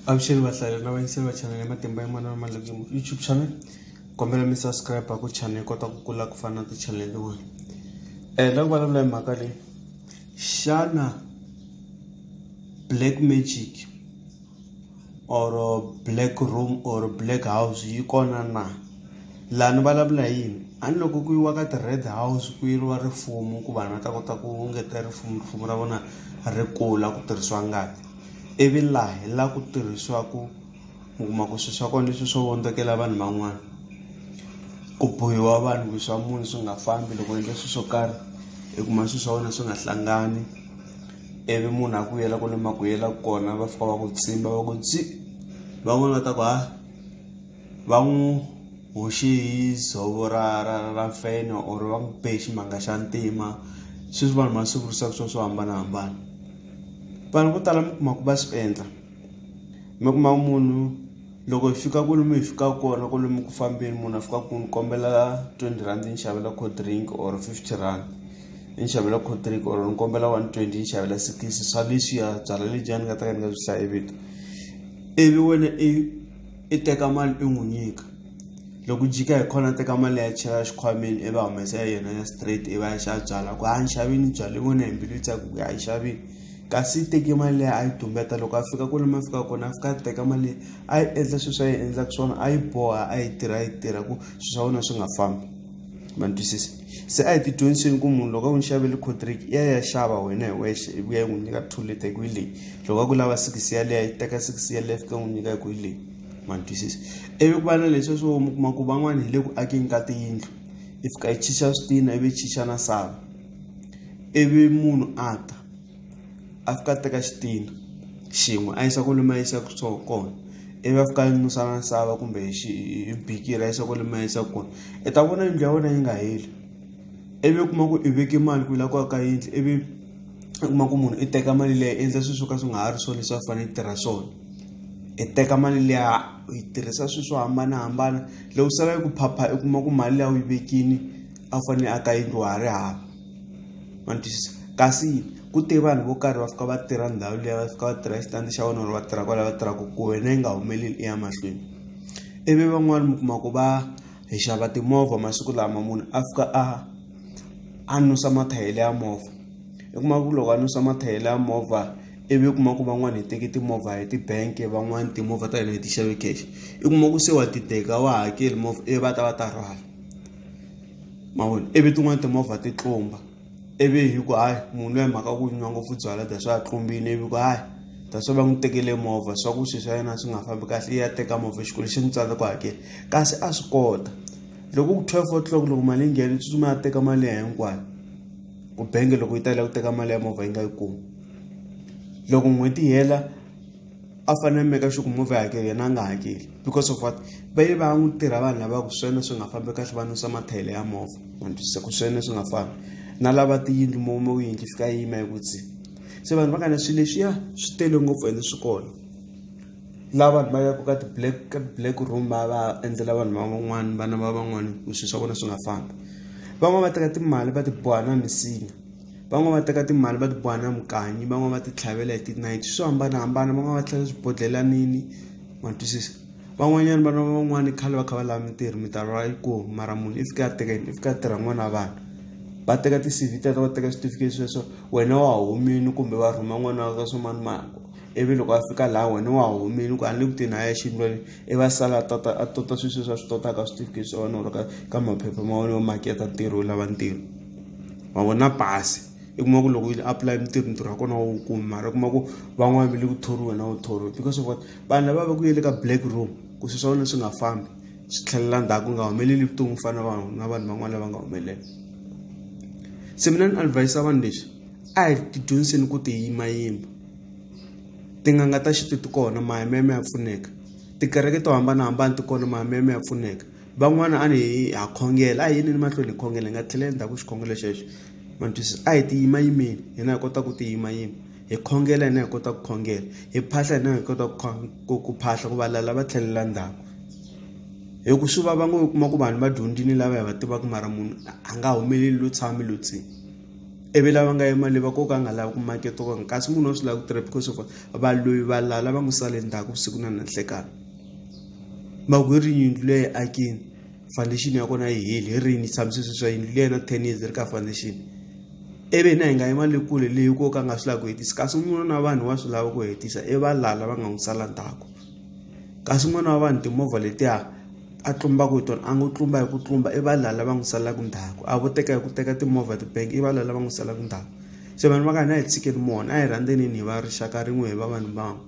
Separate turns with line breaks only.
avuxeni vahlaleri lava yingisela channel ya matimba ya mona mamandla ku youtube channel kombela mi subscribe ku channel yi kota ku kula ku fana na ti-channel tin'wana um la ku vulavula hi mhaka leyi xana black magic or black room or black house yi kona na laha ni vulavula hi yini a ni loko ku yiwa ka ti-red house ku yiriwa rifumo ku vanhu va ta kota ku ngetela rifumo rifumo ra vona ri kula ku tirhisiwa ngati ivi laha hi la ku tirhisiwaku mi kuma ku swi swa kona leswi swo vondzokela vanhu van'wana ku bohiwa vanhu ku swa munhu swi nga fambi loko endla swi swo karhi i kuma swi swa wena swi nga hlangani ivi munhu a ku yela kwale ma ku yela kona va fika va ku tsimba va ku tsi van'wani va ta ku ha. va n'wi hoxe hi dzovo ra ra ra feno or va n'wi be ximanga xa ntima sweswi vanhu masiku risaka swona swo hambanahambana vanhu vo tala mi kuma ku va swi endla mi kuma munhu loko hi fika kwalomu hi fika kona kwalomu ku fambeni munhu a fika ku ni kombela twenty rand ni xavela cold drink or fifty rand ni xavela cold drink or ni kombela one twenty ni xavela sikisi swa leswiya byalwa lebyiya ni nga ta ka ni nga byi hlayi vito ivi wena i i teka mali i n'wi nyika loko u jika hi kona a teka mali ya chela xikhwameni ivi a humesa ya yena ya straight ivi a ya xava byalwa ku a ni xavi ni byalwa i vona hi mbilu yi tsaka ku a yi xavile kasi i teke mali leyi a yi tumbeta loko a fika kwale ma fika kona a fika a teka mali leyi a yi endla sweswi a yi endlaka swona a yi boha a yi tirha a yi tirha ku swilo swa wena swi nga fambi ma ni twisisa. se a hi ti dyondziseni ku munhu loko a n'wi xavele cotric i ya ya xava wena hi wexe i vuya yi n'wi nyika two leta hi ku hi leyi loko a ku lava six yaleya yi teka six yaleya fika n'wi nyika hi ku hi leyi ma ni twisisa ivi ku va na leswi swo mi kuma ku van'wana hi le ku akeni ka tiyindlu i fika yi chicha switina ivi yi chicha na sava ivi munhu a ta a fika a teka xitini xin'we a yisa kwale ma yisa ku swo kona ivi a fika a nusa na misava kumbe hi xi hi bikiri a yisa kwale ma yisa kona i ta vona yindlu ya wena yi nga heli ivi u kuma ku i veke mali ku yi la ku aka yindlu ivi u kuma ku munhu i teka mali leyi i endla swi swo ka swi nga ha ri swona leswi a fanele i tirha swona i teka mali liya u yi tirhisa swi swo hambanahambana loko sala yi ku phapha i kuma ku mali liya u yi vekini a wu fanele aka yindlu wa ha ri hava. ma ni twisisa kasi ku te vanhu vo karhi va fika va tirha ndhawu liya va fika va tirha xitandi xa vona or va tirha kwala va tirhaka ku wena yi nga humeleli i ya mahlweni ivi van'wani mi kuma ku va hi xava timovha masiku lama munhu a fika a a nusa mathayele ya movha i kuma ku loko a nusa mathayele ya movha ivi u kuma ku van'wani hi teki timovha hi ti-bank van'wani timovha ta hina hi ti xave cash i kuma ku se wa ti teka wa hakeli movha ivi va ta va ta rhwala. ma vona ivi tin'wani timovha ti tlumba ivi hi ku hayi munhu loyi mhaka ku nwa ngopfu byalwa that's why a tlumbile ivi ku hayi that's why va n'wi tekele movha swa ku swilo swa yena swi nga fambi kahle ya teka movha xikwele xi n'wi tsala ku hakela kasi a swi kota loko ku twelve o'clock loko mali yi nghena tsutsuma ya teka mali ya hinkwayo ku bangi loko yi tala ku teka mali ya movha yi nga yi kumi loko n'hweti yi hela a fanele make sure ku movie hakeli yena a nga hakeli because of what va ye va n'wi tirha vanhu lava ku swena swi nga fambi kahle va nwisa mathayele ya movha matwisisa ku swena swi nga fambi na lava tiyindlu mome wu yindlu fika yima yi kutsi se vanhu va kana swilo leswiya swi tele ngopfu ende swi kona la vanhu va yaka ka ti-black ka ti-black room va va endlela vanhu va van'wani vana va van'wani ku swilo swa vona swi nga fambi van'wani va teka timali va ti boha na misinya van'wani va teka timali va ti boha na mikanyi van'wani va ti tlhavela hi tinayiti swo hambanahambana van'wani va tlhela swibodlhelanini ma twisisa van'wanyana vana va van'wani khale va kha va lava mintirho mintirho a yi kona mara munhu i fika a teka yini i fika a tirha n'wana wa vanhu va teka ti-C_V teto va teka switifiketi sweswo wena wa humile kumbe va rhuma n'wana wa ka swa manimani ivi loko a fika laha wena wa humile ku a ni le ku tirheni a ya exiyindlwanini i va sala a tota a tota swilo sweswi a swi totaka switifiketi swa wena or ka ka maphepha ma wena yo maketa ntirho yo lava ntirho. wa vona pasi i kuma ku loko u apply mintirho ntirho wa kona wa wu kumi mara u kuma ku van'wana va le ku thoriwa na wu thoriwa because of what vanhu lava va ku yele ka black room ku swi swa wena swi nga fambi swi tlhelela ndzhaku ku nga humeleli vutomi ku fana vanhu na vanhu van'wana lava nga humelela se mina ni advise vanhu leswi a hi ti dyondziseni ku ti yimayima tin'anga ta xintu ti kona mahayimeme ya pfuneka tikereke to hambanahambana ti kona mahayimeme ya pfuneka van'wana a ni ha khongela a hi yini ni mahlweni hi khongela hi nga tlhela endzhaku xikhongelo xexo ma ni twisisa a hi ti yima yimeni hina hi kota ku ti yima yima hi khongela hina hi kota ku khongela hi phahla hina hi kota ku ku phahla ku valala va tlhelela ndzhaku hi ku swi vava ngo u kuma ku vanhu va dyondzini lava hi va tivaka mara munhu a nga humeleli lo tshami lo tsini ivi lava nga yimali va koka a nga lavi ku maketa kona kasi munhu wa swi lava ku tirha because of va loyi va lala va n'wi sale ndzhaku vusiku na nanhlekani mako hi ri yindlu leyi akini foundation ya kona yi heli hi rini tshamisisi swa yindlu leyi na ten years ri ka foundation ivi hina hi nga yi mali kule leyi ko ka nga swi lavi ku hetisa kasi un'wana na vanhu wa swi lava ku hetisa i va lala va nga n'wi sala ndzhaku kasi un'wana wa vanhu timovha letiya a tlumbaka hi tona a ngo tlumba hi ku tlumba i va lala va n'wi salaka ndzhaku a vo teka hi ku teka timovha tibank i va lala va n'wi salaka ndzhaku se vanhu va ka hina a hi tshikeni mona a hi rhandzenini hi va rixaka rin'we hi va vanhu van'we